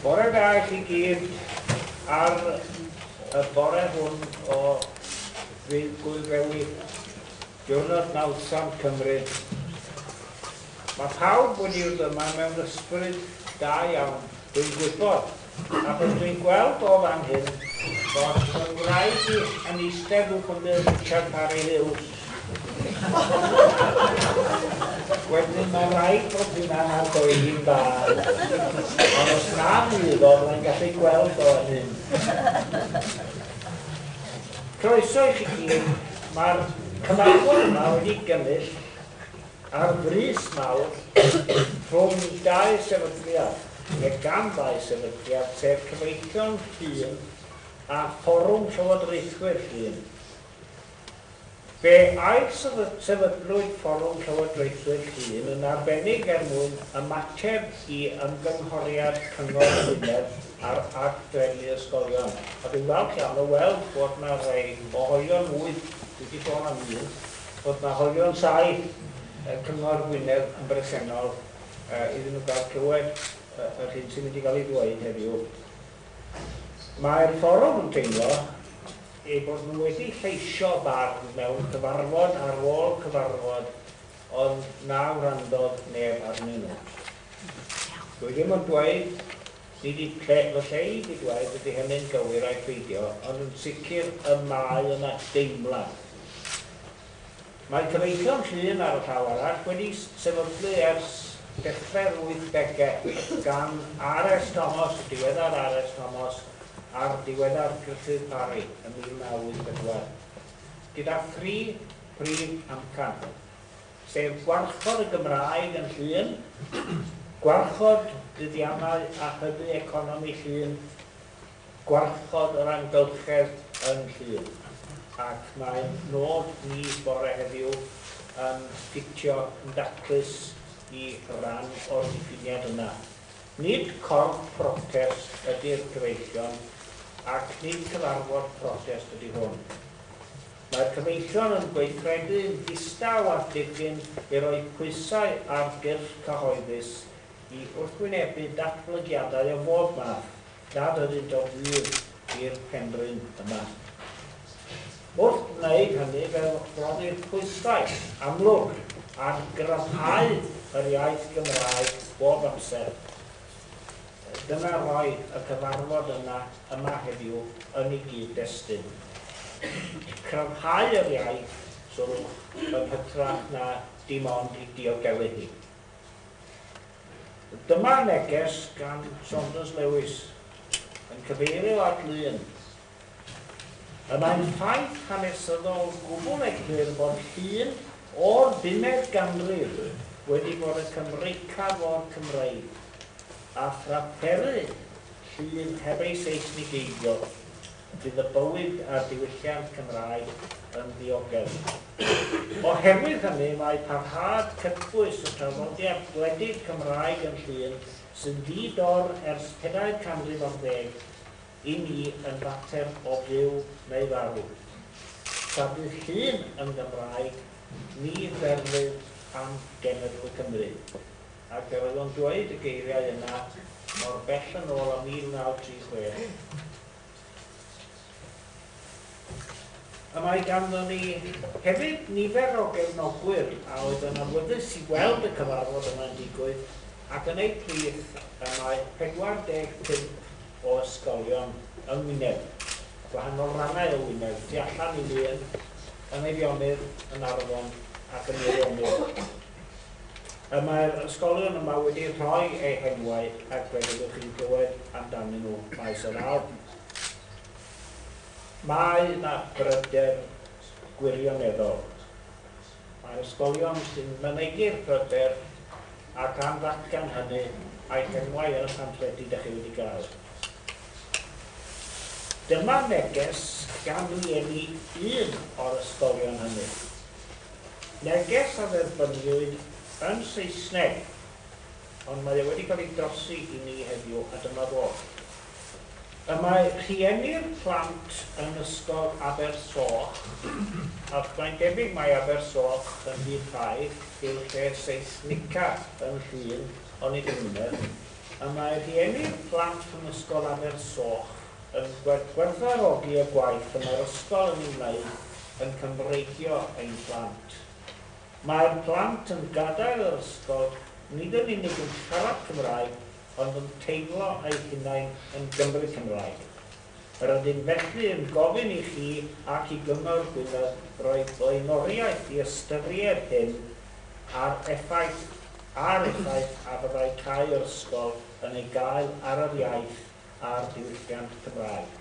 Bore da i chi gyd ar y bore hwn o fydd Gwylfewi, diwrnod nawddsant Cymru. Mae pawb wedi dod yma mewn ysbryd da iawn, dwi'n gwybod. a bod dwi'n gweld o fan hyn bod fy ngwraig i yn eistedd yn hwnnw Richard Parry Hughes. Wedyn mae'n rhaid bod hynna'n argoeli'n dda. Ond os na fydd o, mae'n gallu gweld o yn hyn. Croeso i chi gyd. Mae'r cyfarfod yma wedi gynnull Ar frys mawr, rhwng dau sefydliad, neu gan ddau sefydliad, sef Cyfreithion Llŷn a Fforwm Llywodraethwyr Llŷn. Fe ailsefydlwyd Fforwm Llywodraethwyr Llŷn yn arbennig er mwyn ymateb i ymgynghoriad Cyngor Gwynedd ar Ag Drefnu Ysgolion. A dwi'n falch iawn o weld bod 'na rai o olion mwy wedi sôn am un. bod 'na hoelion tai yy Cyngor Gwynedd yn bresennol yy iddyn nhw gael clywed yy yr hyn sy'n mynd i gael ei ddweud heddiw. Mae'r Fforwm yn teimlo eu bod nhw wedi lleisio barn mewn cyfarfod ar ôl cyfarfod ond na wrandodd neb arnyn nhw. Dwi ddim yn dweud Dwi di ple fy lle i di dwaed ydi hynny'n gywir ai peidio ond yn sicr y mae yna deimlad. Mae cyfeillion Llŷn ar y llaw arall wedi sefydlu ers dechrau'r wythdege gan RS Thomas, y diweddar RS Thomas a'r diweddar Gruffydd Parry ym 1984 gyda thri prif amcan. sef gwarchod y Gymraeg yn Llŷn, gwarchod buddiannau a hybu economi Llŷn, gwarchod yr amgylchedd yn Llŷn, ac mae'n nod ni bore heddiw yn ffitio yn daclus i ran o'r diffiniad yna. Nid corff protest ydi'r gyfeillion ac nid cyfarfod protest ydi hwn. Mae'r Comisiwn yn gweithredu'n ddistaw â Phigyn i roi pwysau ar gyrff cyhoeddus i wrthwynebu datblygiadau o bob math nad ydynt o fudd i'r Penrhyn yma. Wrth wneud hynny, fe rhoddir pwysau amlwg ar gryfhau yr iaith Gymraeg bob amser, Dyna roedd y cyfarfod yna yma heddiw yn ei gyd-destun. Cryfhau yr iaith, Twrch, yn hytrach na dim ond ei diogelu hi. Dyma neges gan Saunders Lewis yn cyfeirio at lun Y mae'n ffaith hanesyddol gwbl eglur fod llun o'r bumed ganrif wedi bod yn Cymreicaf o'r Cymreig, a thraperu llun heb ei Seisnigeiddio, bydd y bywyd a'r diwylliant Cymraeg yn ddiogel. Oherwydd hynny, mae parhad cytbwys y traddodiad gwledig Cymraeg yn llun sy'n ddi-dor ers pedair canrif ar ddeg, i mi yn fater o fyw neu farw. Tra bu llun yn Gymraeg, ni ferfyd am genedl y Cymry. Ac yr oedd o'n dweud y geiriau yna mor bell yn ôl â 1936. Y mae ganddo ni hefyd nifer o gefnogwyr a oedd yn awyddus i weld y cyfarfod yma'n digwydd ac yn eu plith y mae 45 o ysgolion yng Ngwynedd, gwahanol rannau o Wynedd, tu allan i Lŷn, yng Nghaerionydd, yn Arfon ac yn Meirionnydd. Y mae'r ysgolion yma wedi rhoi eu henwau ac fe fyddwch chi'n clywed amdanyn nhw maes o law. Mae yna bryder gwirioneddol. Mae'r ysgolion sy'n mynegi'r pryder ac am ddatgan hynny a'i henwau yn y pamffledi da chi wedi gael. Dyma neges gan rieni un o'r ysgolion hynny. Neges a dderbyniwyd yn Saesneg, ond mae e wedi cael ei drosi i ni heddiw a dyma fo. Y mae rhieni'r plant yn ysgol Abersoch ac mae'n debyg mai Abersoch yn rhyddhau i'r lle seisnica yn Llŷn ond nid yn Ngwynedd. Y mae rhieni'r plant yn ysgol Abersoch yn gwerthfawrogi y gwaith y mae'r ysgol yn ei wneud yn Cymreigio ein plant. Mae'r plant yn gadael yr ysgol nid yn unig yn siarad Cymraeg ond yn teimlo eu hunain yn Gymry Cymraeg. Yr ydym felly yn gofyn i chi ac i Gyngor Gwynedd roi blaenoriaeth i ystyried hyn a'r effaith a'r effaith a fyddai cau yr ysgol yn ei gael ar yr iaith a'r diwylliant Cymraeg.